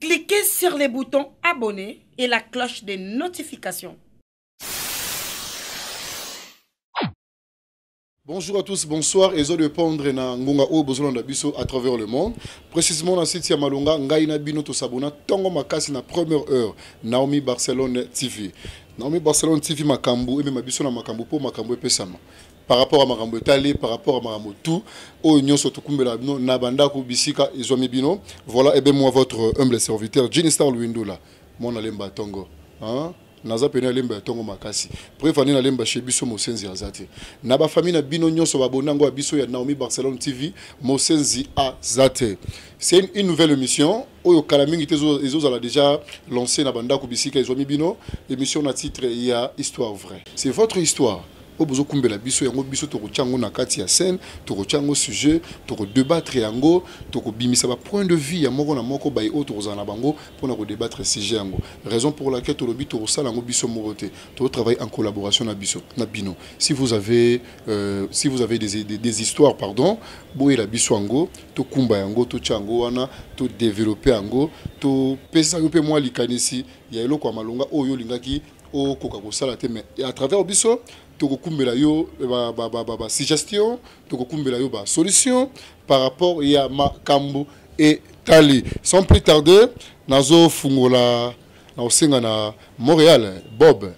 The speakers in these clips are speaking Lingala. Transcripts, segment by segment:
Cliquez sur le bouton abonner et la cloche de notification. Bonjour à tous, bonsoir. Et je répondre na ngonga o bozolanda biso à travers le monde. Précisément na site ya Malonga, ngai na bino to s'abonna tongo makasi na première heure Naomi Barcelone TV. Naomi Barcelone TV makambu et même biso na makambu po makambu epesama. par rapport à makambo etali par rapport à makambo tout oyo nyonso tokumbela bino na bandako bisika ezwami bino voilà ebe eh moi votre humble serviteur Jini Star Luindula mwana lemba tongo hein? naza pene alemba ya ntongo makasi preuve ane nalemba chez biso mosenzi aza te na bafamille na bino nyonso babona yango ya biso ya naomi barcelone tv mosenzi aza te c'est une nouvelle émission oyo kala mingi te ezozala déjà lancé na bandako bisika ezwami bino émission na titre ya histoire vraie c'est votre histoire oyo bozokumbela biso yango biso tokotya yango na kati ya scène tokotya yango sujet tokodebattre yango tokobimisa bapoint de vue ya moko na moko baye oyo tokozala na bango mpona kodebattre sujet yango raison pour laquelle tolobi tokosala yango biso moko te tokotravaille en collaboration na biso na bino si vous avez euh, si vous avez des, des, des histoires pardon boyela biso yango tokumba yango totya yango wana todevelope yango topesa yo mpe mwa likanisi ya eloko ya malonga oyo olingaki okoka kosala te mais à travers biso tokokumbela yo basuggestion tokokumbela yo basolution par rapport ya makambo etali sans plus tarder nazofungola nakosenga na montréal bob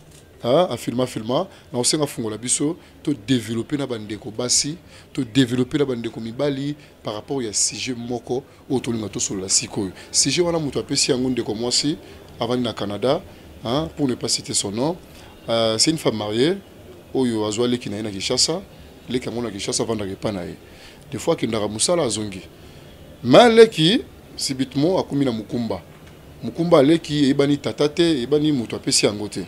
afilma filma nakosenga fungola biso to développer na bandeko basi to développer na bandeko mibali par rapport ya sujet moko oyo tolinga tosolola sikoyo sujet wana moto apesi yango ndeko mwasi avandi na canada hein, pour ne pas citer son nom euh, c'est une femme mariée oyo azwa leki na ye na kinshasa leki yango na kinshasa avandaka epa na ye des fois akendaka mosala azongi ma leki sibitement akomi na mokumba mokumba aleki eyebani tata te eyebani moto apesi yango te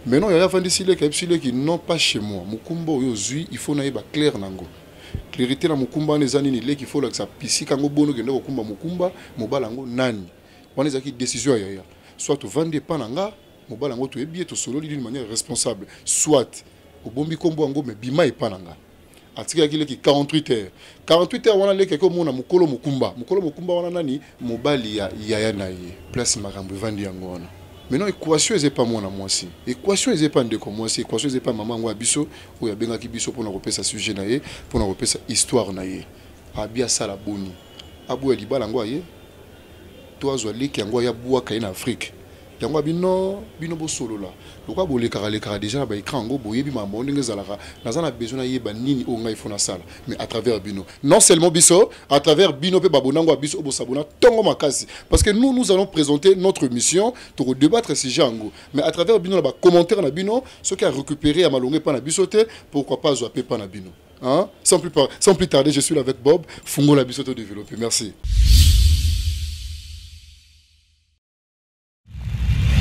Maintenant yaya vandisi leki ayebisi leki non pas chez moi mokumba oyo ozwi il faut nayeba claire na yango clarité na mokumba wana eza nini leki faut olakisa pisika yango boni okende kokumba mokumba mobala yango nani wana ezalaki décision ya yaya soit ovandi epa na nga mobala yango toyebi ye tosololi d'une manière responsable soit obombi nkombo yango me bima epa na nga atikaki leki 48 heures 48 heures wana leki akomona mokolo mokumba mokolo mokumba wana nani mobali ya yaya na ye place makambo evandi yango wana maintenant équation eza epa mwana mwasi équation eza epa ndeko mwasi équation eza epa mama yango ya biso oyo abengaki biso mpona kopesa sujet na ye mpona kopesa histoire na ye abi asala boni aboya libala yango aye to azwa leki yango aya bwaka ye na afrique yango ya bino bino bosolola lokola bolekaka lekaka deja na ba écran yango boyebi makambo yango ndenge ezalaka naza na besoin nayeba nini oyo ngai fo nasala mais à travers bino non seulement biso à travers bino mpe babonango ya biso oyo bosabona ntongo makasi parce que nous nous allons présenter notre mission tokodebattre sujet yango mais à travers bino na bacommentaire na bino soki ya récupérer ya malonga epai na biso te pourquoi pas azwa mpe epai na bino Hein? Sans, plus par... Sans plus tarder, je suis là avec Bob. Fungo la bisoto développé. Merci.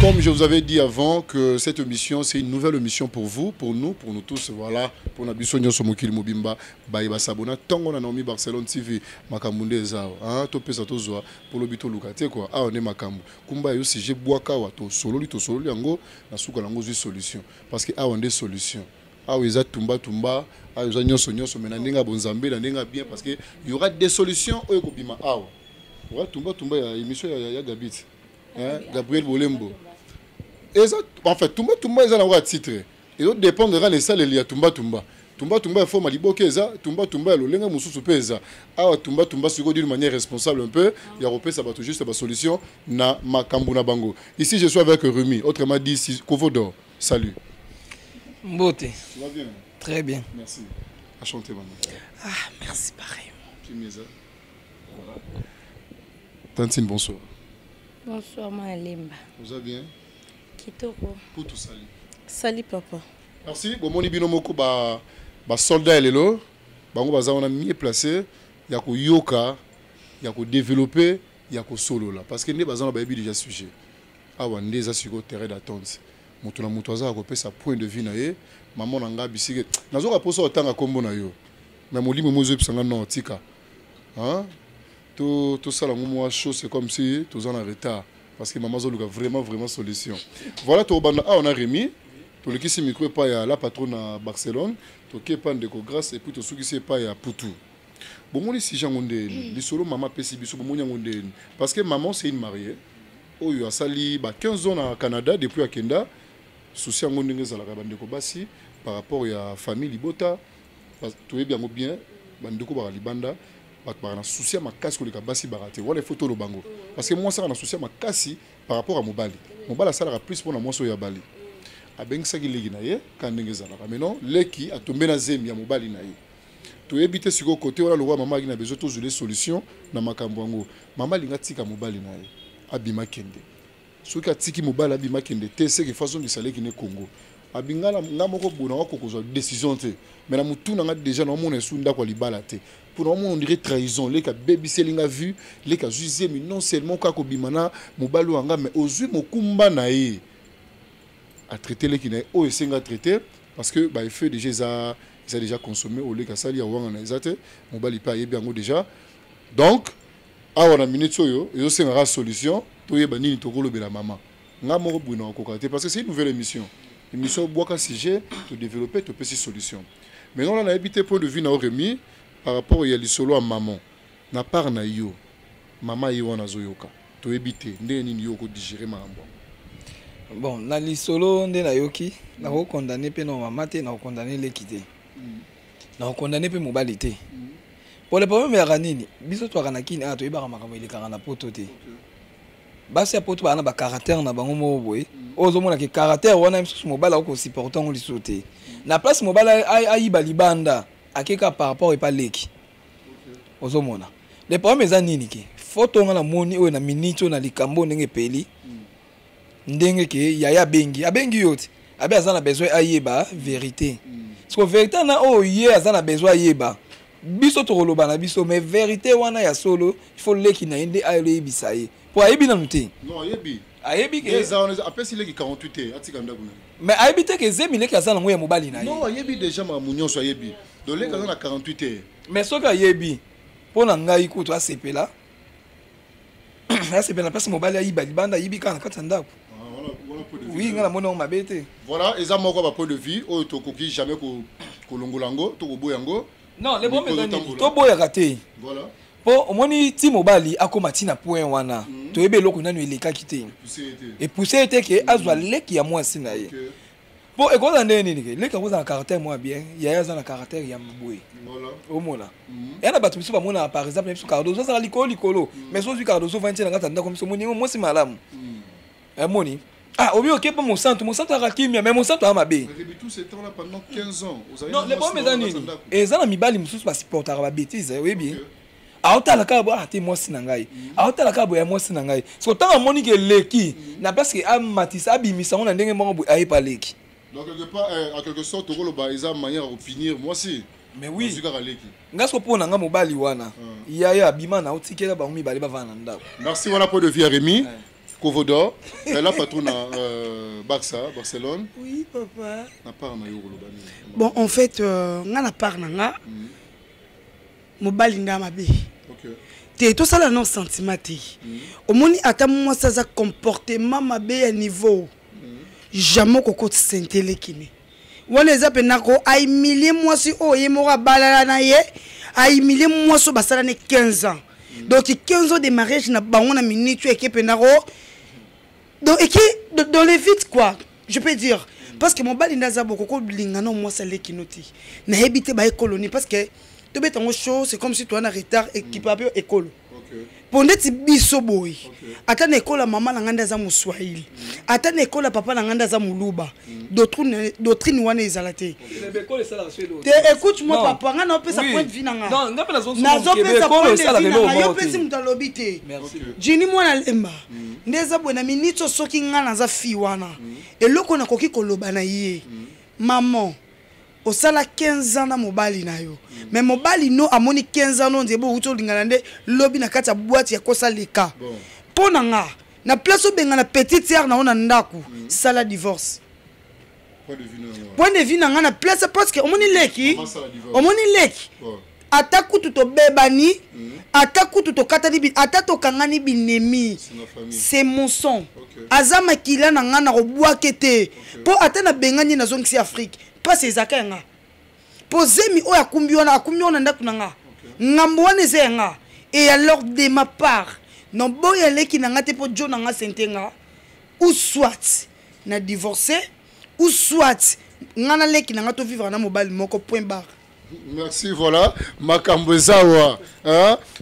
Comme je vous avais dit avant que cette émission, c'est une nouvelle émission pour vous, pour nous, pour nous tous. Voilà, pour Nabiso Nyoso Mokili Mobimba, Baïba Sabona, Tango na Naomi Barcelone TV, Makambounde Ezao, hein, to pesa to zoa, pour le bito luka, t'es quoi, ah, on est Makambo. Kumba yo si j'ai boakawa, to sololi, to sololi, ango, na souka lango, solution. Parce que ah, on est solution. awa eza tumba tumba awa eza nyonso nyonso mais na ndenge ya bonzambe na ndenge ya bien parce que y aura des solutions oyo ekobima awa oza tumba tumba ya émission ya, ya gabit hein? gabriel bolembo eza enfin tumba tumba eza nango ya titre ezo dépendre kaka na esaleli ya tumba tumba tumba tumba ya forme liboke eza tumba tumba ya lolenge mosusu mpe eza awa tumba tumba sikoyo d'une manière responsable un peu ya kopesa bato juste basolution na makambo na bango ici je suis avec rumi autrement dit kovodor Salut. Mbote. Tu vas bien Très bien. Merci. À chanter maman. Ah, merci pareil. Kimeza. Voilà. Tantine, bonsoir. Bonsoir, ma Lemba. Vous allez bien Kitoko. Pour tout salut. Salut, papa. Merci. Bon, mon ibino moko ba ba soldat elelo. Bango baza on a mieux placé ya ko yoka, ya ko développer, ya ko solo là parce que ne baza na ba déjà sujet. Awa nde eza siko terrain d'attente. Moto na moto aza ya kopesa point de vue na ye. Maman na nga bisike. Nazoka posa otanga kombo na yo. Mais molimo mo ezoyebisa nga non tika. Hein? To tosala ngo mwa show c'est comme si toza na retard parce que maman azoluka vraiment vraiment solution. Voilà to banda awa na Remy. Tolekisi micro epai ya la patronne na Barcelone. Toke epai ndeko Grace et puis tosukisi epai ya Putu. bongoli sije yango ndeni lisolo mama apesi biso bomoni yango ndeni parce que maman c'est une mariée oyo asali ba 15 ans na canada depuis akenda souci yango ndenge ezalaka bandeko basi par rapport ya famille libota toyebi yango bien bandeko baka libanda bato baka na souci ya makasi koleka basi baka te wana ifo toloba yango parce que mwasi aka na souci ya makasi par rapport ya mobali mobali asalaka plus mpo na mwasi oyo abali abengisaki leki na ye kaka ndenge ezalaka maintenant leki atombe na zemi ya mobali na ye toyebi te sikoyo kote wana lokola mama alaki na besoin tozwile solution na makambo yango mama alingi atika mobali na ye abima kende soki atiki mobali abima kende te seke fo azongisa leki ne congo abinga na nga moko bona nga kokozwa décision te me na motu na nga déjà naomona esu ndako ya libala te mpo naomona ondire trahison leki abebiseli nga vue leki azwi zemi non seulement kaka kobima na mobali oyo anga me ozwi mokumba na ye atraite leki na ye oyo esenga traite parce que ba effet déjà eza eza déjà consommé au leka sali ya wanga na eza te mobali pa yebi yango déjà donc awa na minute oyo ezo senga ka solution to yeba nini to kolobela maman nga moko bwino akoka te parce que c'est une nouvelle émission émission bwaka sujet to développer to pesi solution mais non là na yebi te point de vue na oremi par rapport ya lisolo ya maman na part na yo maman ye wana azoyoka toyebi te ndenge nini yo oko digere makambo yango bon na lisolo nde nayoki nakokondane mpe na mama te nakokondane leki te mm. nakokondane mpe mobali te mm. pole problème yaka nini biso twaka na kini awa ah, toyebaka makambo elekaka na poto te basi ya poto baa na bacaractère na bango moko boye mm. oyo ozomonaka caractère wana mosusu mobali akoki kosupporte yango lisusu te na place mobali ayiba libanda akeka par rapport epa leki ozo mona le problème eza nini ke foto nga na moni oyo na minute oyo na likambo ndenge epeli mm. ndenge ke yaya abengi abengi yo ti abe aza na besoin ayeba verité mm. siko verité na oyo ye aza na besoin ayeba biso tokoloba na biso mais verité wana ya solo il faut leki na ye nde ayebisa ye mpo ayebi nanu te ayebi ke eza wana apesi leki 48 te atika ndako na mais ayebi te ke zemi leki aza nango ya mobali na ye non ayebi deja makambo nyonso ayebi donc leki aza na 48 te mais soki ayebi mpo na ngai kutu asepela asepela mpasi mobali ayiba libanda ayibi kaka na kati ya ndako ah, oui ngai namoni yango mabe te voilà eza moko ya bapoint de vue oyo tokoki jamais kolongola yango tokoboya yango non le problème eza nini toboyaka te voilà po omoni ti mobali akoma ti na point wana mm. toyebi eloko nanu elekaki te epousse ye te ke azwa leki ya mwasi na ye okay. po ekozala ndenge nini ke leki akozala na caractère mwa bien yaya aza na caractère ya boye omona mhm. ya na bato biso bamonaka par exemple na biso cardoso azala likolo likolo mhm. mais sozwi cardoso vandi na kati ya ndako biso omoni yango mwasi malamu mhm. amoni Ah, au mieux, ok, bon, mon sang, mon sang, t'as raté, mais mon sang, t'as ma bé. Depuis tout ce temps-là, pendant 15 ans, vous avez. Non, les bons, mes amis, et ça, la mibali, nous tous, pas supporter la bêtise, oui, bien. aotala kaka boye ate mwasi na ngai aotala kaka boye ya mwasi na ngai soko ntango amoni ke eleki na place ke amatisa abimisa yango na ndenge moko boye ayepa aleki donc quelque part eh, en quelque sorte tokoloba eza manière ya kopinir mwasi mais oui nga soko mpo na nga mobali wana ah. yaya abima na otikela bango mibale bavanda na ndako merci wana mpo de vie ya remi Kovodo, elle a patron à euh, Barça, Barcelone. Oui, papa. Na part na yo koloba nini? Bon, en fait, euh, nga na part na nga. Mm. Mobali nga mabe. OK. Te to sala non sentiment te. Mm. Omoni ata moi ça ça comportement mabe à niveau. Mm. Jamais kokoti sentele kini. wana eza mpe nako aimilie mwasi oyo ye moko abalala na ye aimilie mwasi oyo basala ne 15 ans donc 15 ans de mariage na bango na minute oyo eke mpe nako donc eke dans les vite quoi je peux dire parce que mobali nde aza boko kolinga na mwasi alekino te nayebi te baye koloni parce que tobeta yango show c'est comme si toa na retard ekipe ape ekolo mpo ndeti biso boye ata na ekola mama na ngai nde aza moswahili ata na ekola papa na ngai nde aza moluba doctrine wana ezala te te écoute moi papa ngai naopesa point de vie na ngainazopesa point de vie na ngai yo mpesi moto alobi te jini mwana lemba mm. nde eza boye na miniti soki ngai naza fi wana mm. eloko nakoki koloba na ye mm. maman osala 15 ans na mobali na yo me mobali no amoni 15 ans no nzebe outi olingana nde lobi na kati ya bwati ya kosa leka mpo na nga na place obengana petite sere na yo na ndako mm. sala divorce point de vue na nga na place parce que omoni leki omoni leki ata kutu tobebani mm. ata kutu tokatani bi, ata tokangani binemi se monson okay. aza makila na ngai nakobwake te mpo okay. ata nabengani ye nazongisi afrike mpasi ezaka ya ngai mpo zemi oyo akumbi wana akumbi wana ndako na ngai okay. ngambo wana eza ya ngai et alors de ma part naboya leki na ngai te mpo jo na ngai sente ngai ou soit na divorce ou soit ngai na leki na ngai tovivre na mobali moko point barre merci voilà makambo eza wa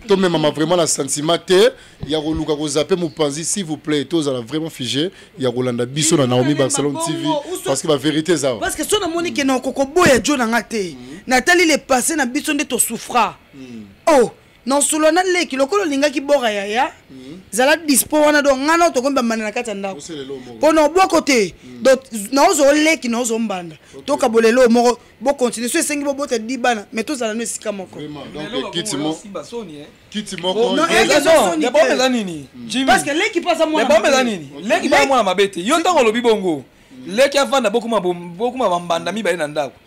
tomemama vraiment na sentiment te ya koluka kozape mopanzi s'il vous plaît tozala vraiment fige ya kolanda biso na naomi barcelone tv parce que bavérité eza parce que so namoni ke na okokoboya jo na nga te natali le passé na biso nde tosouffra hmm. oh na osolo na leki lokola olingaki bora yaya mhm. zala dispo wana donc ngai nao tokomi bambanda na kati ya ndako mpo na obwoko te mhm. donc naozo leki naozo mbanda tokabola eloo moko bocontinue so esengi bobota di bana mai tozala no esika moko leki mpo aza mwana nini leki baa mwana mabe te yo ntango olobi bongo leki avanda bokuma bambanda mibale na ndako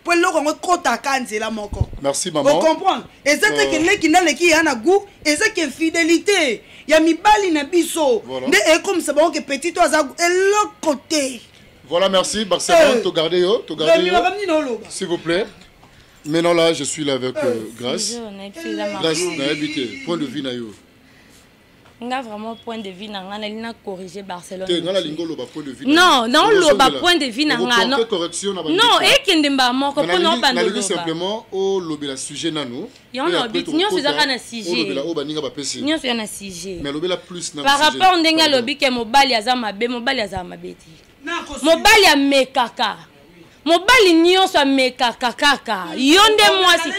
mpo eloko yango ekotaka nzela moko merci mama ocomprendre eza te ke euh. leki naleki ya na gout eza ke fidelité ya mibali na biso nde ekomisa bango ke petit to aza eloko te voilà merci barcelone euh. togarde yo togarde yo s'il vous plaît maintenant là je suis là avec euh, grace grace nayebi te point de vue na yo nga vraiment point de vue na nga nali na corrige barcelone te nga nalingi oloba point de vue non na oloba point de vue na nga non correction na non ekende mbala moko mpo na obanda oloba simplement olobela sujet nanu yango na obiti nyonso ezaka na sujet olobela oyo baninga bapesi nyonso eza na sujet mais lobela plus na par rapport ndenge alobi ke mobali aza mabe mobali aza mabe te mobali amekaka mobali nyonso amekaka kaka yo nde mwasi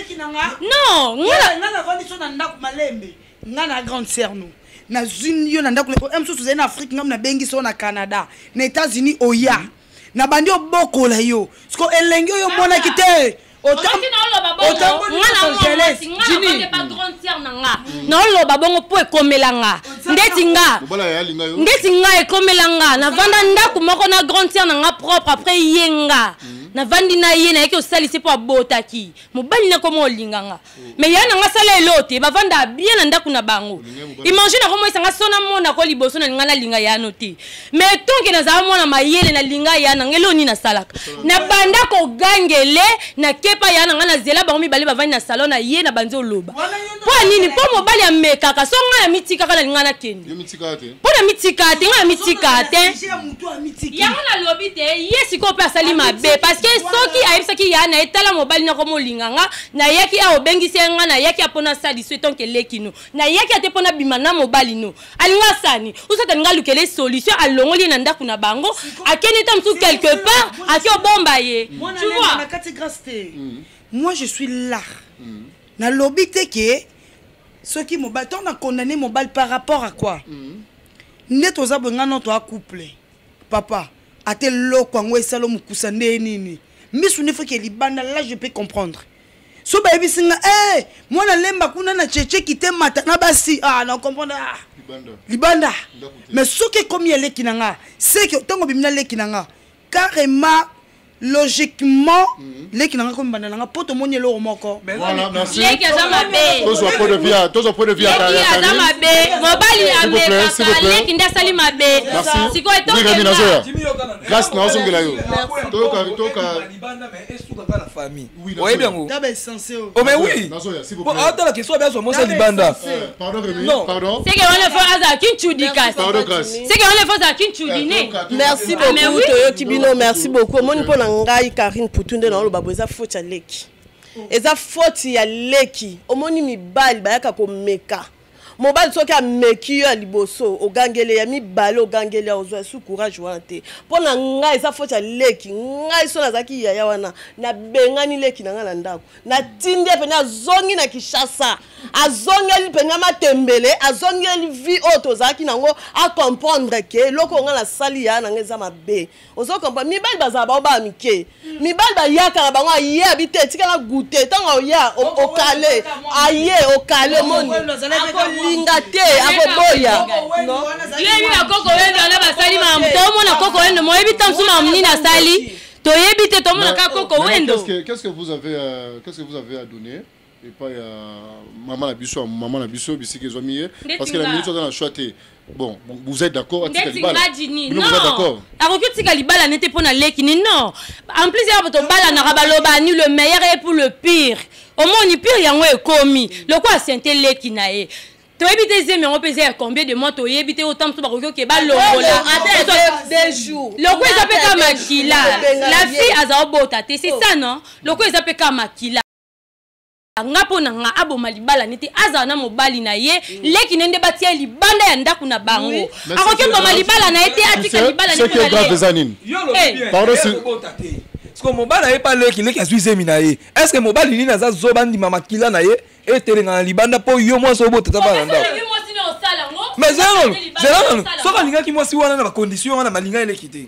non nga nga na grande sœur no nazwi yo na ndako eh, mosusu ozali na afrique ngam nabengi so na canada na états-unis oya mm. nabandi obokola yo siko elengi oyo omonaki te naoloba bongo mpo ekomela nga ndeti nga ndeti nga ekomela nga navanda ndako moko na grande sere na nga propre apres ye nga mm. navandi na ye nayaki osalisi mpo abotaki mobali nakoma olinga nga mais ya na nga sala eloo te bavanda bien na ndako na bango imagine akomoyisa nga so namona ko liboso na linga nalinga yano te mais tonke nazala mwana mayele nalinga ya na nga eloo nini nasalaka nabanda kogangele nakepa ya na nga nazela bango mibale bavandi na salon na ye na banzi oloba mpo ya nini mpo mobali amekaka so ngai namitikaka nalinga nakende mpo na mitika te ngai namitika te yango nalobi te ye sikoyo mpe asali mabe parce que soki ayebisaki ya na etala mobali nako molinga nga Na yaki awa obengisi ya nga na yaki ya pona sali swe tant que leki no. Na yaki ate pona bima na mobali no. Alinga sani. Usa talinga lukele solution a longoli na ndaku na bango. A kende tam sou quelque part a kyo bomba ye. Tu vois? Na kati grâce te. Mm. Moi je suis là. Mm. Na lobi te ke soki mobali tant na condamner mobali par rapport à quoi? Mm. Nde toza bengano to a couple. Papa. Ate loko yango esalo mukusa nde nini? misu nde foki libanda là je peux comprendre so bayebisi nga eh, mwana lemba kuna na cheche kite mata na basi ah, na comprendre ah. libanda mais soki ekomi ya leki na nga seke ntango obimi na leki na nga carrément logiquement mhm. leki na nga komi banda na nga mpo tomoni eloko moko leki aza mabetozwa point de vue aza mabe mobali amekaka leki nde asali mabe sikoyo grâce na ozongela yo toyoka toyoka libanda mais esuka kaka na famille oyebi yango taba essence o oh, mais oui po atala ke so be azwa mosa libanda eh, pardon Rémi pardon c'est que on le fait aza kinchudi kasi pardon kasi c'est que on le fait aza kinchudi ne eh, merci ah, beaucoup toyoki bino merci beaucoup omoni mpo na ngai Karine Poutou nde na oloba bo eza faute ya leki eza faute ya leki omoni mibali bayaka komeka mobali soki ameki yo ya liboso ogangele ya mibale ogangele ya ozwa esu courage wana te mpo na ngai eza foti ya leki ngai so nazalaki yaya wana nabengani leki na ngai na ndako natindi ye mpena azongi na kinshasa azongeli mpena matembele azongeli vie oyo tozalaki nango acomprendre ke eloko ngai nasali yaya na ngai eza mabe ozo comprendre mibali bazala bango bana mike hmm. mibali bayaka na bango aye abi te etikala goute ntango oya okale aye okale moni akolinga te akoboya yebi bakoko wendo wana basali mamu tomona koko wendo moyebi ntango mosusu mamu nini asali toyebi te tomona kaka koko wendo qu'est-ce que vous avez euh, qu'est-ce que vous avez à donner epa ya mama na biso mama na biso bisika ezwami ye parce que la minute aza na choix te bon vous êtes d'accord atika libala bino vous êtes d'accord akoki otika libala nete mpo na leki ni non en plus ya bato balanaka baloba ni le meilleur et pour le pire omoni pire yango ekomi lokola sente leki na ye toyebi te zemi yango mpe eza ya combien de mois toyebi te otango so bakoki oke balongoloko eza mpe ka makila la fille aza obota te c'est ça non loko eza mpe ka makila nga mpo na nga aboma libala nete azala na mobali na ye mm. leki na ye nde batia ye libanda ya ndako na bango akoki oboma libala na ye te atika libala siko mobali aye pa leki leki azwi zemi na ye est ce que mobali nini aza zoba ndima makila na ye etelengana na libanda mpo yo mwasi obota ta bana ndako mais zela nanu zela nanu soki alingaki mwasi wana na bacondition wana malinga eleki te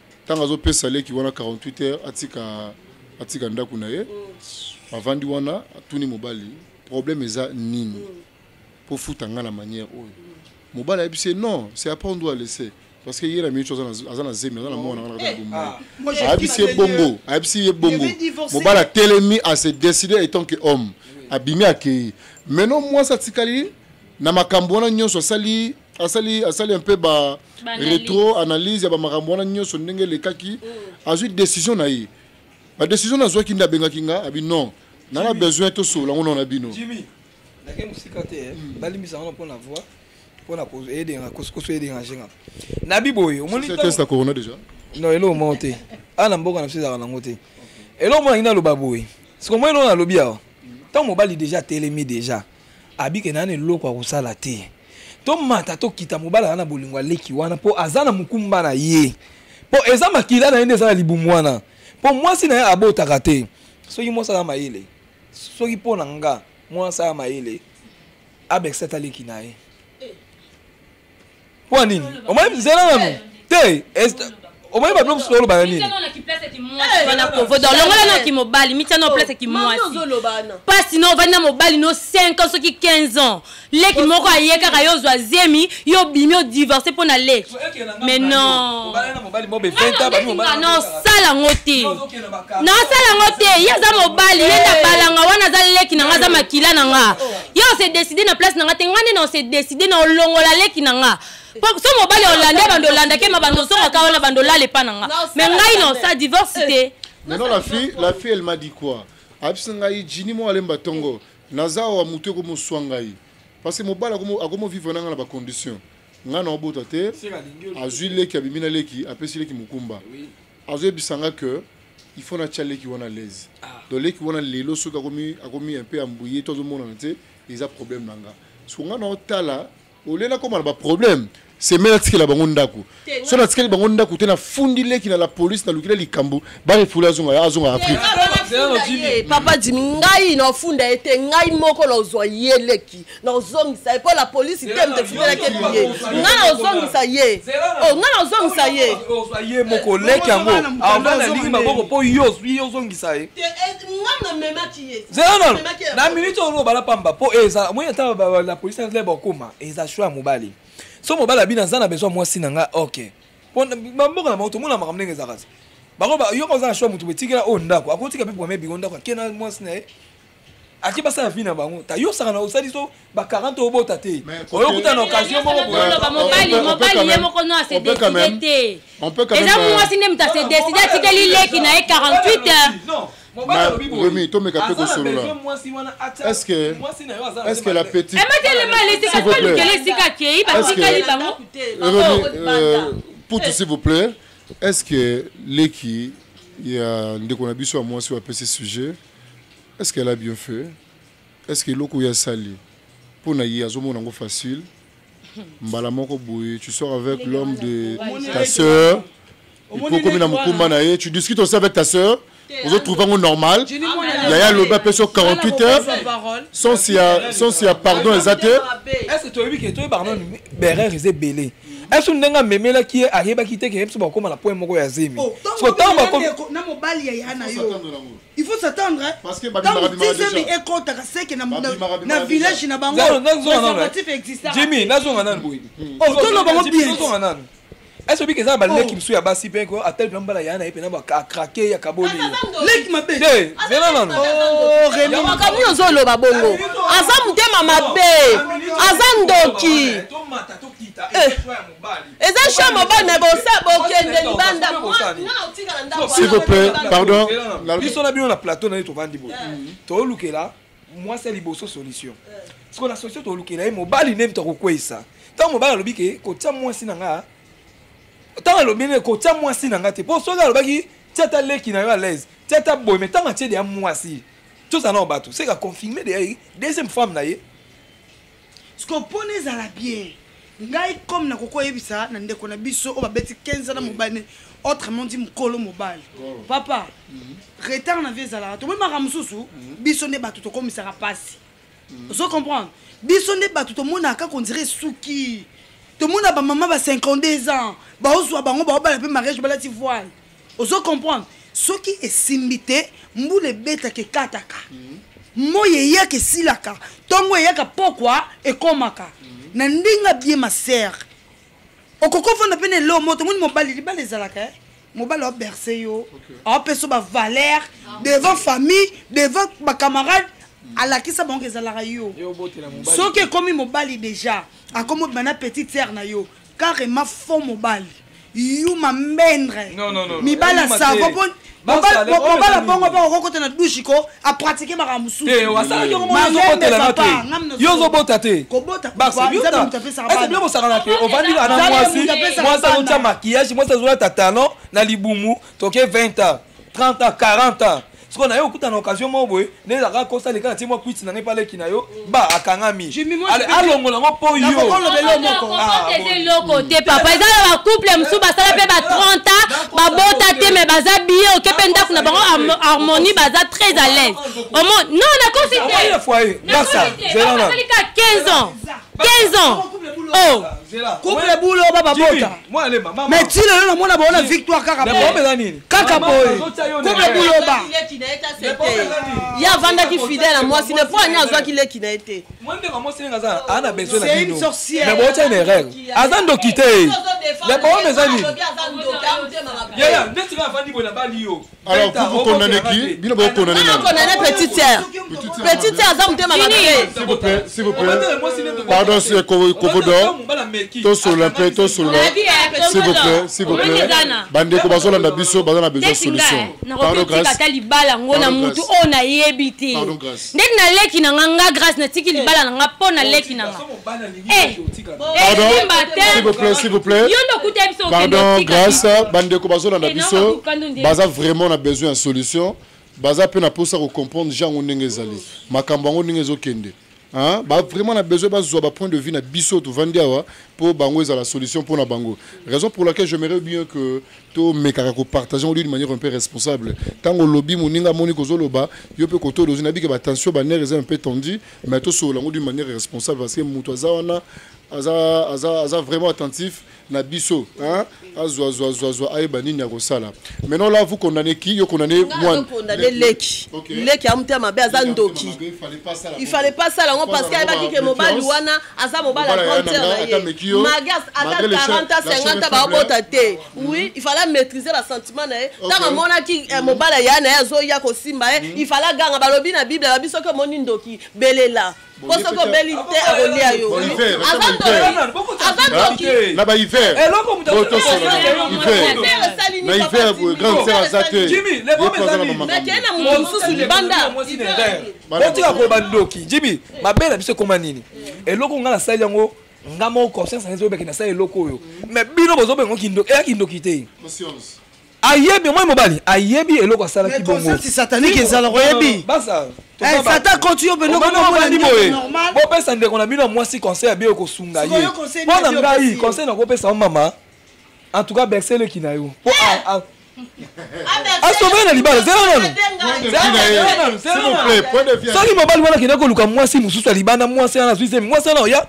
ntango azopesa leki wana 48 heures atika atika ndako na ye mm. avandi wana atuni mobali problème eza nini mm. mpo futa ngai na manière oyo mm. mobali ayebisi ye non c'est après on doit laisser parce que ye na minute aza na zemi aza na mwana ngai na bomoi eh, ah. ayebisi ye bongo ayebisi ye bongo mobali atelemi a se décide étant que homme abimi akei maintenant mwasi atikali na makambo wana nyonso asali asali asali un peu ba retro analyse ya bamakambo wana nyonso ndenge elekaki oh. azwi décision na ye badécision nazwaki nde abengaki nga abi non na na besoin tosolola ngo nao na bino nake mosika te eh. hmm. balimbisa ngo mpo na voi mpo na edenga kosokoso edengange nga na biboye omonitesta corona déjà non eloko moko te awa na mboka na biso ezalaka nango te eloko moko nangi naloba boye sikomoi eloko nalobi awa ntango mobali déjà atelemi déjà abike na eloko akosala te tomata tokita mobali aza na bolingo aleki wana mpo aza na mokumba na ye mpo eza makila na ye nde eza na libumu wana mpo mwasi na ye abotaka te soki mwasi aza mayele soki mpo na nga mwasi aza mayele abekisa taleki na ye mpo ya nini omoni nzela nanu te omoni bato mosusu oloba na nini longola na kimobali mitya na oplace kimwasi mpasi na ovandi na mobali no 5 ans soki 15 ans leki moko aye kaka yo ozwa zemi yo obimi odivorce mpo na leki mais non osala yango te nasala yango te ye aza mobali ye nde abalanga wana aza leki na nga aza makila na nga ye ose décide na place na nga te nga nde na ose décide na olongola leki na nga so mobali olande bando olandake ma bando ozongaka wana bando olala epa na nga mais ngai na osa divorce te eh. mais non la fille la fille elle m'a dit quoi abisi ngai jini mo alemba tongo naza awa motu ekomoswa ngai parce que mobali akomovivre na ngai na bacondition ngai na obota te azwi leki abimi na leki apesi leki mokumba azoyebisa nga que il faut natya leki wana lese ah. donc leki wana lelo soki akomi, akomi un peu ambuye to azomonana te eza problème na nga so nga naotala olie nakoma na baproblème semaine atikela bango ndako so natikeli bango ndako te nafundi leki na la police nalukila likambo barefule azonga azonga afrique papa dimi ngai naofunda ye te ngai moko naozwa ye leki nakozongisa ye mpo la polisi te moto efumelaki ebiye nga nakozongisa ye o nga nakozongisa ye ye moko leki yango avant nalingi maboko mpo yo ozwi yo ozongisa ye zelanol na minute oyo obala pamba mpo eza moi ata la polisi azali bakoma eza sho ya mobali so mobali abina aza na besoin mwasi na ngai ok mpo bamboka na bango tomona makambo ndenge ezalaka te bango yoka oza na sho ya moto botikela oyo ndako akotika mpe bwame biko ndako akenda mwasi na ye ake basala vie na bango ta yo osaka na osali so ba 40 obota te oyo kuta na occasion moko boyoloba mobali mobali ye moko no ase décide te eza mwasi nde moto ase décide atikeli leki na ye 48 heures remi tomeka mpe kosolola estceque la petite putu s'il vous plaît est ce que leki ya ndeko na biso ya mwasi oyo apesi sujet Est-ce qu'elle a bien fait? Est-ce que eloko ya sali mpo na ye azomona yango facile mbala moko boye tu sors avec l'homme de ta sœur ekokomi na mokumba na ye tu discutes aussi avec ta sœur ozotrouve yango normal yaya alobi apesi yo 48 heures sense ya sense ya pardon eza te est ce que toyebi ke toyebaka nano berere eza ebele esu ndenge amemelaki ye ayebaki te ke ye biso bakokoma na point moko ya zemi oh, sotango bakomi il faut s'attendre ntango dizemi ekotaka seke na village na bangoatif existajimi nazonga nanu boye otolo bango bienzonga nanu est-ce que eza baleki mosusu ya basi mpe ko atali mpe mbala ya na ye mpe na bakrake ya kaboli leki mabe te zela nanu makambo oyo ozoloba bongo aza motema mabe aza ndoki eza chambre bana bosa bokende libanda s'il vous plaît pardon biso na bino na plateau na ye tovandi boye toolukela mwasi ya liboso solution sikoyo na solution toolukela ye mobali nde moto akokweisa ntango mobali alobi ke kotia mwasi na nga ntango alobi ne kotia mwasi na nga te mpo soki alobaki tia ata leki na yo à l'aise tia ata boye me ntango atie deya mwasi tozala nao bato seka confirme deya ye deuxième femme na ye siko mpo na ezala bien ngai comme na koko oyebisa na ndeko na biso oyo babeti 15 na mobali autrement dit mokolo mobali oh. papa mhm. retard na vie ezalaka tomoni maka mosusu mhm. biso nde bato tokomisaka mpasi mhm. ozo comprendre biso nde bato tomonaka kondire esuki tomona bamama ba 52 ans baozwa bango baobala mpe mariage balati voile ozo comprendre soki esimbi te mbula ebetaka ekataka mhm. moi eyaka esilaka ntongo eyaka pokwa ekomaka mhm. na ndenge abie masere okoki ofanda mpe na eloo moto moni mobali libala ezalaka eh? mobali aberse yo aopesa yo bavaler ah. devant famille devant bacamarade mhm. alakisa bango ezalaka yo soki ekomi mobali déjà akomi obima na petite sere na yo carrément faux mobali yuma mbendre mibala savo po mobala bongo mpe okokota na dushe ko apratike makambo mosusuyo ozobota te bosakana te ovandi na mwasi mwasi azotya makiyage mwasi azolata talon na libumu toke 20 ans 30 ans 40 ans sikoyo naye okuta na occasion moko boye nde ezalaka kosa leka na tie mwa kwiti na ngai mpa leki na yo ba akangami alongola yango mpo yoeloko te papa eza na bacouple mosusu basala mpe ba 30 ans babota te me baza biye oke mpe ndako na bango harmonie baza très à l'aise omo non nakosi te 15 ans 15 ans oh couple bulo bababota mais ti lelo namona baona victoire kaka kaka boye kobe buloba ye avandaki fidèle ya mwasi ne mpo ani azwaki leki na ye te bootya une erreur aza ndoki te ya baome eza nini alors vous vous condamnez qui bino bokondamne petite sœur petite aza motema pardon kovodor tosolola mpe tosolola bandeko bazolanda biso baza na besoin solution ata libala yango na motu oyo nayebi te ndeti na leki na nga nga grâce natiki libala na nga mpo na leki na nga yo nde okuta biso pardon grâce bandeko bazolanda biso baza vraiment na besoin ya solution baza pe na posa ko comprendre gens yango ndenge ezali makambo yango ndenge ezokende Hein? Bah, vraiment na besoin bazwa ba point de vue na biso tovandi awa mpo bango la solution pour na bango raison pour laquelle j'aimerais bien que tomekaka kopartage yango d'une manière un peu responsable ntango olobi moninga amoni kozoloba yo mpe koto olozi nabi ke batension banere eza un peu tendu mais tosolola yango d'une manière responsable parce que moto aza wana aza, aza, aza vraiment attentif na biso hein azwa zwa zwa zwa ayeba nini akosala maintenant là vous condamnez qui yo condamnez moi condamner leki leki amutema mabe aza ndoki il fallait pas ça là on parce qu'il baki que mobali wana aza mobali à grande sœur na ye magas ata 40 à 50 ans ba bota te hmm. oui il fallait maîtriser la sentiment na ye tant que mona ki eh, hmm. mobali ya na ye azo ya ko simba ye hmm. il fallait ganga balobi na bible ba biso que moni ndoki belela po soki obeli te akolia yo na bahiver na hiver boye grande sere aza te nakei na moto mosusu libanda botika koba ndoki jimi mabe na biso ekoma nini eloko ngai nasali yango nga moko conscience nazo obeke nasali eloko oyo mais bino bozobenga kindoki eya kindoki te ayebi omoi mobali ayebi eloko asalaki bongosi satanike ezalaka oyebi eh, satan koti yo mpenobandi boye bopesa ndeko na bino ya mwasi conseil ya biyo kosunga ye mpo na ngai conseil nakopesa yo mama en tout cas berse eleki na yo mpo eh! asobele na libala zela nanu soki mobali wana akenda koluka mwasi mosusu ya libanda mwasi wana azwi zemi mwasi wana oya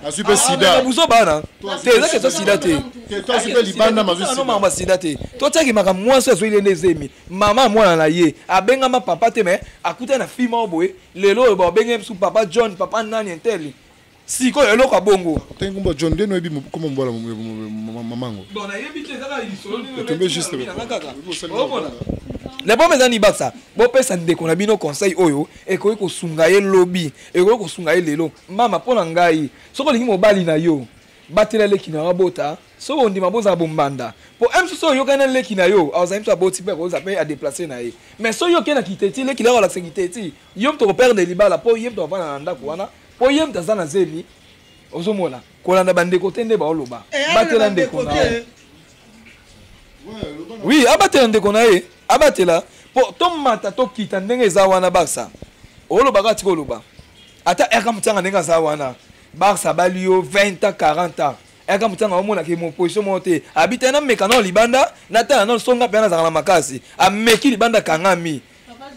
buzoba wana te eza kesa sida te makambo ya sida te totyaki makambo mwasi oyo azoyile nde zemi mama mwana na ye abengama papa te me akuta na fi moko boye lelo oyo babenge bisu papa john papa nani entele sikoyo eloko ya bongo tengumba john nde noyebi koma mobala mamango otombe juste le problème eza nibakisa bopesa ndeko na bino conseil oyo ekoki kosunga ye lobi ekoki kosunga ye lelo mama mpo na ngai soki olingi mobali na yo batela leki na yo abota soki ondima bozala bombanda mpo m soso oyokani na leki na yo azali mpe aboti mpe akozala mpe adeplace na ye mais soki oke na kiteti leki na yo alakisa kiteti yo mpe tokoperdre libala mpo ye mpe avanda na ndako wana mpo ye mpe aza na zemi ozomona kolanda bandeko te nde baoloba eh, batela ndeko na ye oui abatela ndeko na ye abatela mpo tomata tokita ndenge eza wana basa olobaka atika oloba ata erka motianga ndenge aza wana Barça abali yo 20 ans 40 ans yaka motanga omona ke moposition moko te abita na meka nao libanda natala nao songa mpe nazalaka na makasi ameki libanda kangami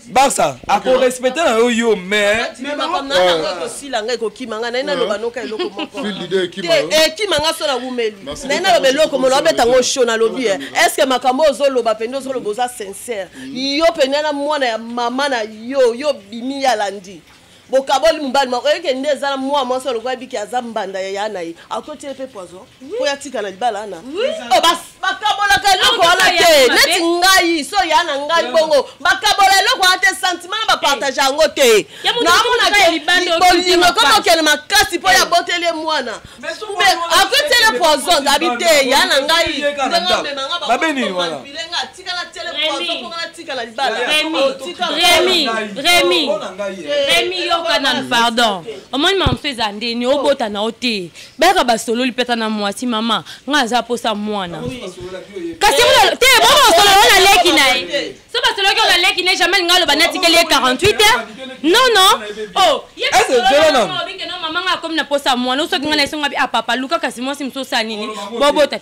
barça akorespecte na yo yo maisosila ngai kokima ngai naye naloba noka eloko mokoekima ngai so naumeli naye naloba eloko molo abeta ngo sho nalobi e estce que makambo oyo ozoloba mpenza ozoloba oza sincère yo mpenza na mwana ya mama na yo yo bimi ya landi bokaboli mobali moko oyoke nde eza na mwa mwasi alokola ebiki aza mbanda ya yana ye akotie mpe poison mpo yatika na libala ana oh, bakabolaka eloko wana te neti ngai so ya na ngai bongo bakabola eloko wana te sentiment na bapartage yango te namonakebolingo koma okende makasi mpo yaboteli ye mwana akotiele poison abi te ya na ngai ndenge omemanga bakomanpile nga remi yoka nanu pardon omoni mama mosusu eza ndeni obota na yo te bayaka basololi mpeta na mwasi mama ngai aza mposa mwana kasi te bongo osolola na leki na ye so basololaki ona leki na ye jamai ngai aloba natikeli ye 48 heure non non oh, mama ngai akomi na mposa mwana osoki ngai na esongabi a ah, papa luka kasi mwasi mosusu osala nini bobota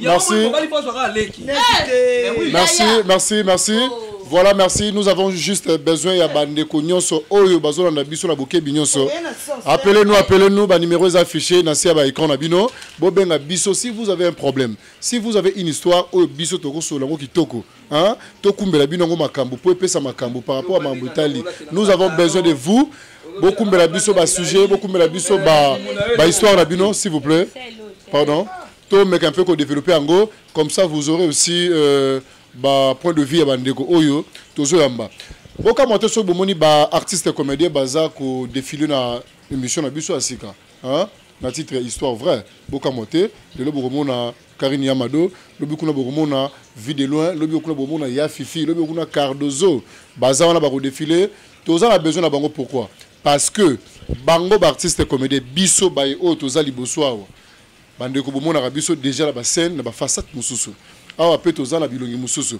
Merci. Merci, merci, merci. Oh. Voilà, merci. Nous avons juste besoin ya bandeko nyonso oyo bazolanda biso na bokebi nyonso. Appelez-nous, appelez-nous, ba numéros affichés na sia ba écran na bino. Bobenga biso si vous avez un problème. Si vous avez une histoire oyo biso toko sola ngo kitoko, hein? Tokumbela bino ngo makambo, po epesa makambo par rapport à Mambutali. Nous avons besoin de vous. Bokumbela biso ba sujets, bokumbela biso ba ba histoire na bino s'il vous plaît. Pardon. To meka un peu ko developper yango comme ça vous aurez aussi euh, ba point de vue ya bandeko oyo tozo yamba. Boka moto soki bomoni ba artistes comédiens baza ko défiler na émission na biso ya sika. Hein? na titre ya histoire vraie bokamwa te lelo bokomona karine yamado lobi kuna bokomona vie de loin lobi kuna bokomona ya fifi lobi kuna cardozo baza wana bakodefile toza na besoin na bango pourquoi parce que bango baartiste comédien biso baye oyo toza liboso awa Bandeko bomonaka biso deja na bascène na bafasate mosusu awa mpe toza na bilongi mosusu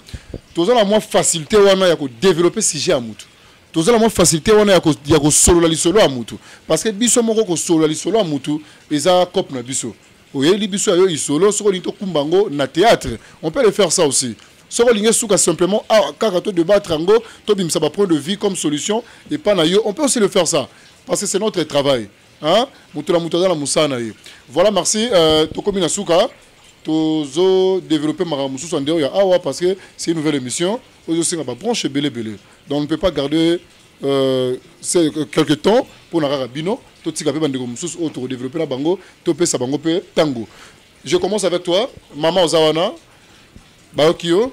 toza na mwa facilité wana ya kodeveloppe sujet ya motu toza na mwa facilité wana ya kosolola lisolo ya motu parce que biso moko kosolola lisolo ya motu eza cope na biso oyeli biso ya yo isolo soki olingi tokumba yango na théâtre on peut le faire ça aussi soki olingi esuka simplement awa ah, kaka to débattre yango tobimisa bapoint de vue comme solution epai na yo on peut aussi le faire ça parce que c'est notre travail Hein? Moto na moto aza na mosala na ye. Voilà, merci. Euh, tokomi na suka. Tozo développer makambo mosusu en dehors ya awa parce que c'est une nouvelle émission. Ozo senga ba branche belé belé. Donc on ne peut pas garder euh, euh quelques temps pour na kaka bino. Totika pe bandeko mosusu oyo toko développer na bango, topesa bango pe tango. Je commence avec toi. Maman Ozawana, Baokio,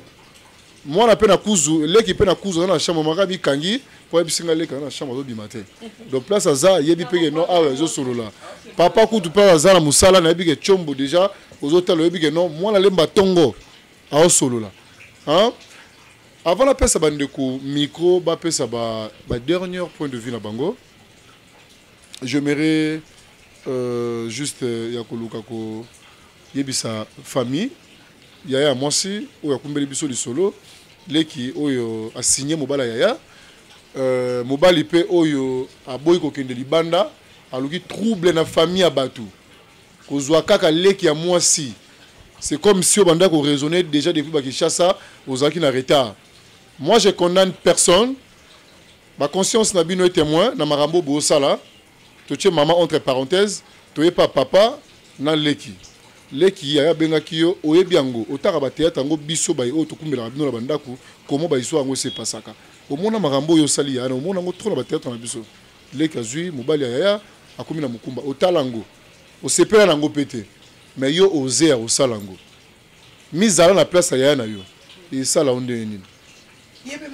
moi na peine à kuzu, leki peine à kuzu dans la chambre, maka bi kangi, pour ebi singa leki dans la chambre, zobi matin. Donc place à za, yebi pege non, ah ouais, zo solo là. Papa kutu place à za na musala, na yebi ke chombo déjà, aux autres le yebi ke non, moi na lemba tongo, ah solo là. Hein? Avant la pesa bandeko micro, ba pesa ba, ba dernier point de vue na bango. j'aimerais euh, juste euh, ya koluka koyebisa famille yaya ya mwasi oyo akumbeli biso lisolo leki oyo asigne mobala yaya euh, mobali mpe oyo aboyi kokende libanda aluki trouble na famille ya bato kozwa kaka leki ya mwasi c'est comme si obanda koraisonne déjà depuis bakishasa ozalaki na retard moi je condamne personne Ba conscience na bino est témoin na makambo bo sala. Totie maman entre parenthèse, toye pa papa na leki. Leki yaya bengaki yo, oyebi yango, otaka ba théâtre yango biso baye oyo tokumbelaka bino na ba ndaku, comment ba histoire yango se passaka. Omona makambo oyo osali yaya na yo, omona yango trop na ba théâtre na biso. Leki azui mobali ya yaya, akomi na mokumba. Otala yango. Osepela na yango pe te. Mais yo oser ya kosala yango. mizala na place ya yaya na yo esala yo ndenge nini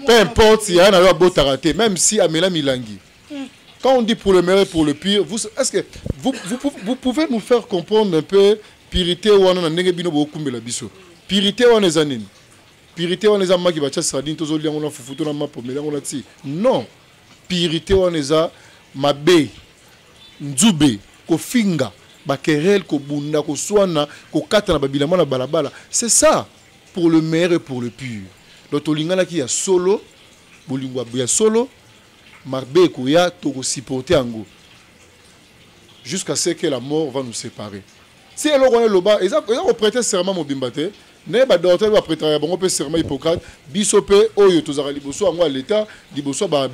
peu importe yaya na yo abotaka te même si amela milangi hmm. quand on dit pour le meilleur et pour le pire vous est-ce que vous, vous, vous pouvez nous faire comprendre un peu purité wana na ndenge bino bokumbela biso purité wana eza nini purité wana eza maki batya sardine tozolia yango na fufu to na mapo mela yango na ti non purite wana eza mabe nzube kofinga bakerel kobunda koswana kokata na babilama na balabala c'est ça pour le meilleur et pour le pur donc tolinganaki ya solo bolingo ya solo mabe ekoya tokosupporte yango jusqu'à ce que la mort va nous séparer si eloko wana eloba eza koprete serment mobimba te naye badortel bapretaka ya bango mpe serment hippocrate biso mpe oyo tozalaka liboso yango ya leta liboso ya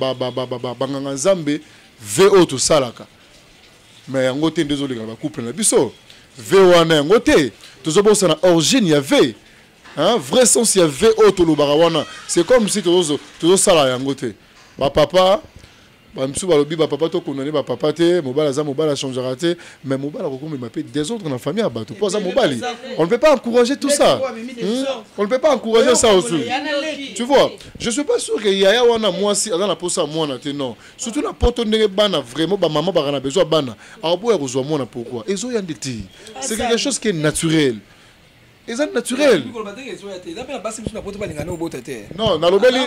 banganga nzambe ve oyo tosalaka me yango te nde ezoleka na bacouple na biso ve wana yango te tozobosana origine ya ve hein? vrai sens ya ve oyo tolobaka wana c'est comme si tozosala yango te bapapa bamisusu balobi bapapa to condamne bapapa te mobali aza mobali achangera te mais mobali akokomema mpe desordre na famille ya bato mpo aza mobali on ne peut pas encourager tout ça hmm? on ne peut pas encourager ça aussi tu vois je suis pas sûr que yaya wana mwasi aza na mposa ya mwana te non surtout na poto ndenge bana vraiment bamama baka na besoin bana akoboya kozwa mwana pourquoi ezoya nde te c'est quelque chose qui est naturel eza naturel non nalobeli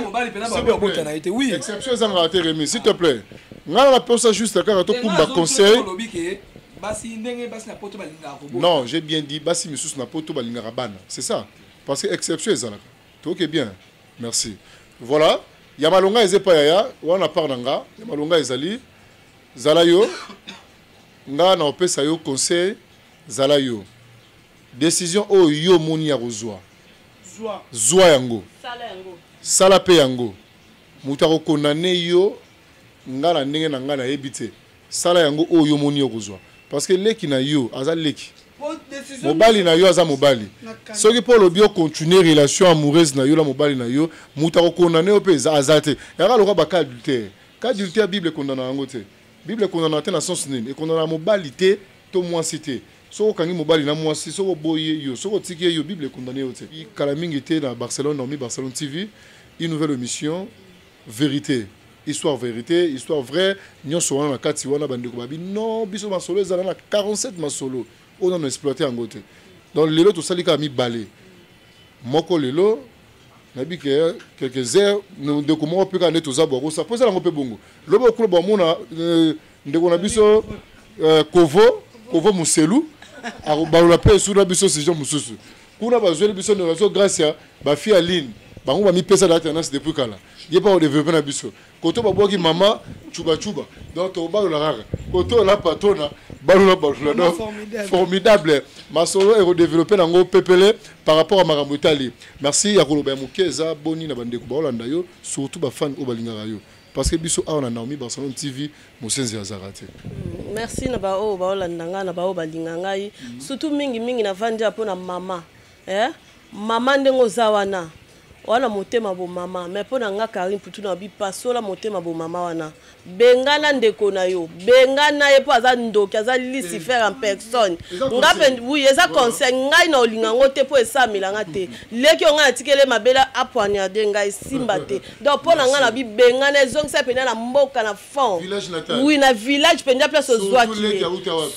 exception ezangaka te remi s'il te plaît ngai naposa juste kaka tokumba conseil non j'ai bien dit basi misusu na poto balingaka bana c'est ça parce que exception ezalaka toke bien merci voilà ya malonga eza epai yaya wana part na nga ya malonga ezali zala yo nga na opesa yo conseil zala yo Decision oyo yo omoni ya kozwa, zwa yango, sala mpe yango. Moto akokondane yo, nga na ndenge na nga nayebi te. Sala yango oyo yo omoni ya kozwa, parce que leki na yo aza leki, mobali na yo aza mobali. Soki mpo olobi o continuer relation amoureuse na yo na mobali na yo, moto akokondane yo mpe aza te. Yaka lokola ba cas adultère, cas adultère Bible ekondanaka yango te. Bible ekondanaka te na sens nini? Ekondanaka mobali te to mwasi te. Soki okangi mobali na mwasi, soki oboyi ye yo, soki otiki ye yo, Bible ekondane yo te. Kala mingi te na Barcelone, Naomi Barcelone TV, une nouvelle emission verite, histoire verite, histoire vraie, nyonso wana na kati wana bandeko babi non biso masolo ezala na 47 masolo oyo nanu exploite yango te. Donc lelo tosali kaka mibale, moko lelo nayebi ke quelques heures ndeko moko mpe kaka nde toza bwakosa mpo eza nango mpe bongo loba okuna bwamona euh, ndeko na biso euh, kovo kovo muselu akobalola mpe esu na biso sujet mosusu kuna bazweli biso ndeko na biso gracia bafi ya line bango bamipesa date anasi depuis kala ye mpe akodevelope na biso koto babwaki mama cubacuba donc tokobalola kaka koto la patrona balola balola donc formidable masolo ekodevelope nango pepele par rapport ya makambo etali merci ya koloba ya moke eza boni na bandeko baolanda yo surtout bafane oyo balingaka yo parce que biso awa na Naomi Barcelone TV mosenzi azaka te mm, merci na ba oyo baolanda ngai na ba oyo balinga ngai mm. surtout mingi mingi na vandi ya mpo na mama eh? mama ndenge oza wana wana motema bo mama mais mpo na nga karine putu na bi pasola motema bo mama wana bengana ndeko na yo bengana ye mpo aza ndoki aza lucifer en personne nga mpe oui eza conseil ngai na olinga yango te mpo esamela nga te leki yo ngai natikele mabela apoignarde ngai simba te donc mpo na ngai na bibengana ezongisa mpenza na mboka na fond wi na village mpenza place ozwaki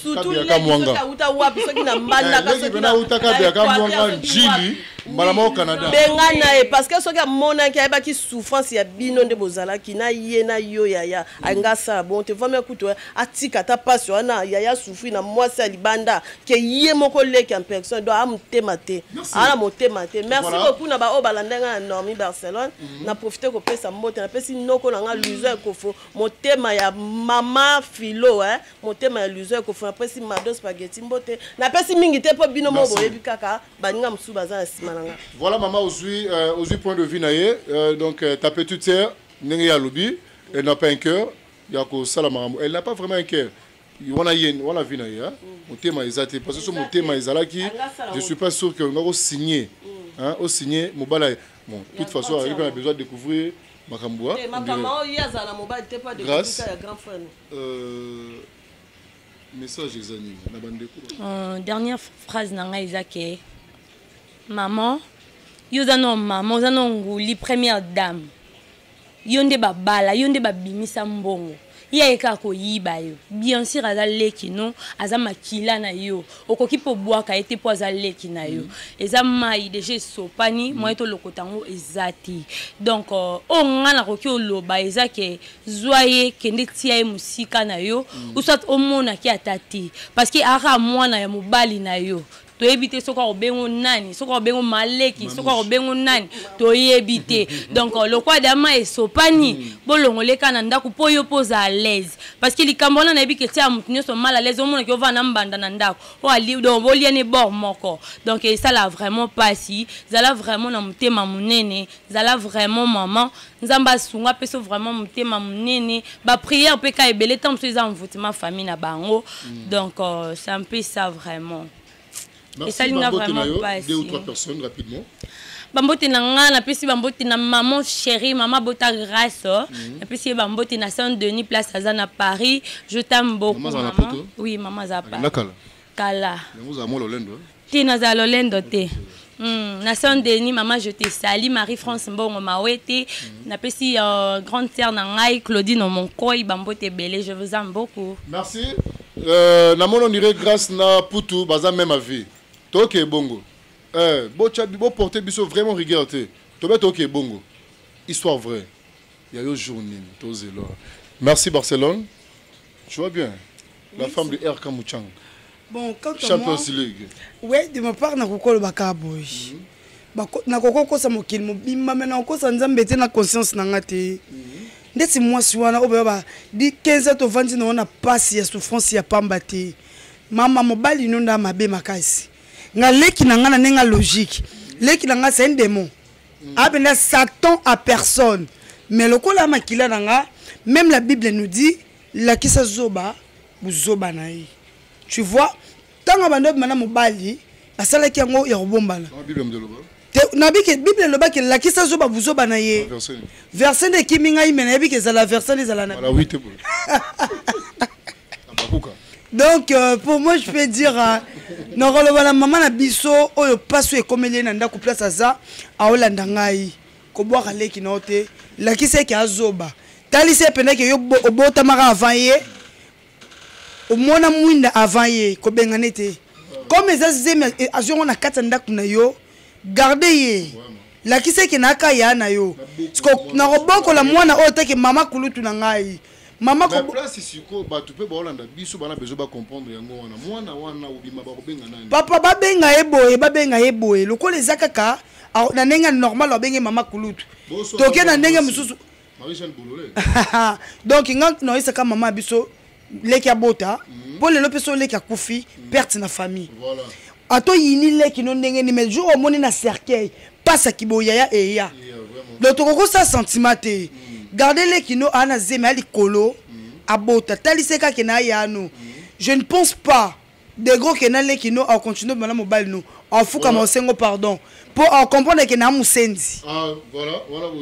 sutuauta wapi soki na mbandakautakabiakamwanga njili mbala moko canada bengana ye parce que soki amonaki ayebaki souffrance ya bino nde bozalaki na ye na yo yaya anga asala bon te vamia kutu atika ata mpasi wana yaya souffri na mwasi ya libanda ke ye moko leki en personne donc amutema te ala motema te merci voilà. beaucoup na baoyo balanda ngai na normi barcelone mm -hmm. na profite kopesa mbote napesi noko na ngai mhm. luzo ekofo motema ya mama filo eh? motema ya luzo ekofo napesi mado spageti mbote napesi mingi te mpo bino moko boyebi kaka baninga mosusu baza na nsima na ngai voilà mama ozwi euh, ozwi point de vue na ye euh, donc euh, ta petite sœur ndenge ye alobi elle n'a pas un cœur ya kosala makambo elle n'a pas vraiment un cœur wana ye wana vie na ye hein? mm. motema eza te parce que so motema ezalaki je suis pas sûr que olinga kosigne mm. hein? osigne mobala ye bon de toute façon azalaki mpe na besoin de découvrir makambo wa eh, makambo oyo ye azala na mobali te mpo adegrâce ya grand frère euh, message eza nini na bandeko euh, dernière phrase na ngai eza ke maman yo oza no maman oza no nguli première dame yo nde babala yo nde babimisa mbongo ye aye kaka koyiba yo bien sur aza leki no aza makila na yo okoki mpe obwaka ye te mpo aza leki na yo mm. eza mai deja esopani mm. moye tolokota yango eza te donk euh, oyo ngai nakoki oloba eza ke zwa ye kende tia ye mosika na yo mm. usat omonaki ata te parce que aka mwana ya mobali na yo toyebi te soki akobengo nani soki akobengo maleki soki akobengo nani toyebi te donc euh, lokwa dama esopani hmm. bolongoleka na ndako mpo yo mpo oza alaise parce que likambo wana nayebi ke tia moto nyonso mal alaise omonaki ovaa na mbanda na ndako donc boliani bor moko donc esala vraiment mpasi zala vraiment na motema monene zala vraiment maman nzambe asunga apeso vraiment motema monene baprière mpe ka ebele ntango mosusu eza envoutema famille na bango mm. donc euh, c'est un peu ça vraiment esali nga vraiment pasi bambote na nga napesi bambote na maman chérie mama bota grace oh. mhm. napesi ye bambote na saint denis place aza na paris je tame beaucoup mama oui mama aza paris kala te nazala lolendo te Mm, na saint denis mama je te sali marie france mbongo mawete mm. napesi uh, grande sœur na ngai claudine omonkoi bambote ebele je vous aime beaucoup merci euh, na mono nire grâce na putu baza même avis toke ebongo euh, boporte biso vraiment rigueur te tobe toke ebongo histoire vraie ya yo jour nini tozela merci barcelone tu vois bien la femme de RK Muchang. Bon, quand Champions moi, League. Oui, de ma part, na kokolo baka boy. Mm -hmm. Na koko kosa mokili mobimba mais na kosa nzambe te na conscience na nga te. Mm -hmm. Ndeti mwasi wana oyo ba di 15 ans tovandi na wana pasi ya souffrance ya pamba te. Mama mobali no nda mabe makasi. Nga leki na nga na nenga logique. Leki na nga c'est un démon. Mm -hmm. Abenda Satan à personne. Mais lokola makila na nga, même la Bible nous dit lakisa zoba buzoba na ye tu vois ntango abanda obima na mobali basalaki yango ya kobombana nabi ke bible eloba ke lakisa zoba buzoba na ye verse nde ekimi ngai me nayebi ke ezala verse nde ezala na donc euh, pour moi je peux dire euh, nakoloba na mama na biso oyo mpasi oyo ekomeli ye na ndako place aza aolanda ngai kobwaka leki na yo te lakisa eke azoba talisa ye mpenza ke yo obotamaka avant ye omona mwinda avant ye kobengane te comme eza zemi eh, azwi yango na kati ya ndako na yo garde ye lakisa eke na aka ya na yo nakobokola mwana oyo teke mama kulutu na ngai mama ko place siko batu pe baolanda biso bana bezo ba comprendre yango wana mwana wana obima ba kobenga nani papa ba benga ye boye ba benga ye boye lokola eza kaka na ndenge normal abenge mama kulutu toke na ndenge mosusu donc nga noyesaka mama biso leki abota mhm. mpo lelo mpe so leki akufi mhm. perte na famille atoyini leki no ndenge nini mais jour omoni na cercueil pasa kiboyaya eya donc tokoki kosala sentiment te mm. garde leki no aa na zemi alikolo mm. abota talise kake na aya no mm. je ne pense pas degro ke na leki no acontinue bana mobali no afukama osengo pardon mpo acomprendre ke na mosenzi ah,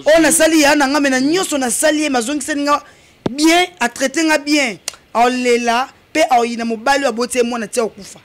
oyo nasali ya na nga me na nyonso nasali ye mazongiseli nga bien atraite nga bien aolela mpe aoyina mobali oyo aboti ye mwana ti akokufa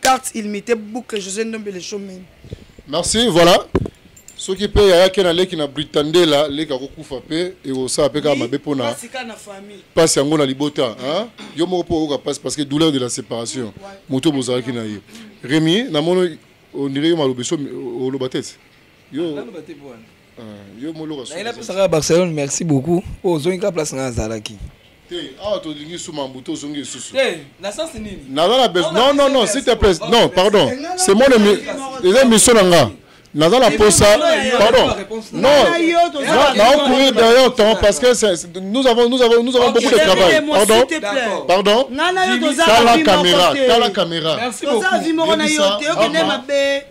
carte illimité boucle josé ndombe le showman merci voilà soki mpe yayaki na leki na britandela leki akokufa mpe ekosala mpe kaka mabe mpo na mpasi yango na libota yo moko mpo oyoka mpasi parce que douleur de la séparation moto bozalaki na ye remi namoni ondire yo malobeso oloba te yo yo moloka soki na pesaka Barcelone merci beaucoup po ozongi ka place nga azalaki te awa tolingi suma mbu tozongi lisusu naza na besoin non non non s'il te plaît non pardon c'est mon eza émission na nga naza na posa pardon non naocouvrir derrière temps parce que nous avons, nous avons, nous avons beaucoup de travail pardon pardon tala caméra tala caméra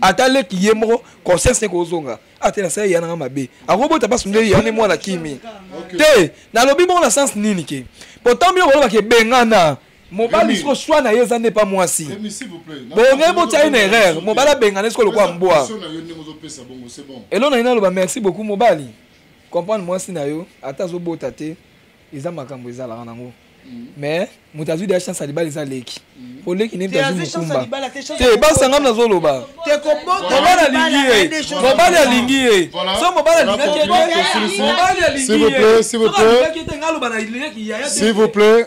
ata leki ye moko conscience ne kozonga ate ah, nasala ya nanga mabe akobota basi nde ya ne mwana kimi te nalobi bongo na sens nini ke potambi yo kolobaka ebengana mobali siko swa na ye eza nde pa mwasi bonge botya ye na erreur mobali abengana esiko lokola mbwa elo na ye naloba merci beaucoup mobali comprendre mwasi na yo ata azobota te eza makambo ezalaka nango mais moto azwi deya chance ya libala eza leki mpo mm. leki nde azwi mokumba te basanga mna azoloba mobali alingi ye mobali alingi ye so mobali alingaki ye te mobali alingi ye te nga aloba na leki yaya te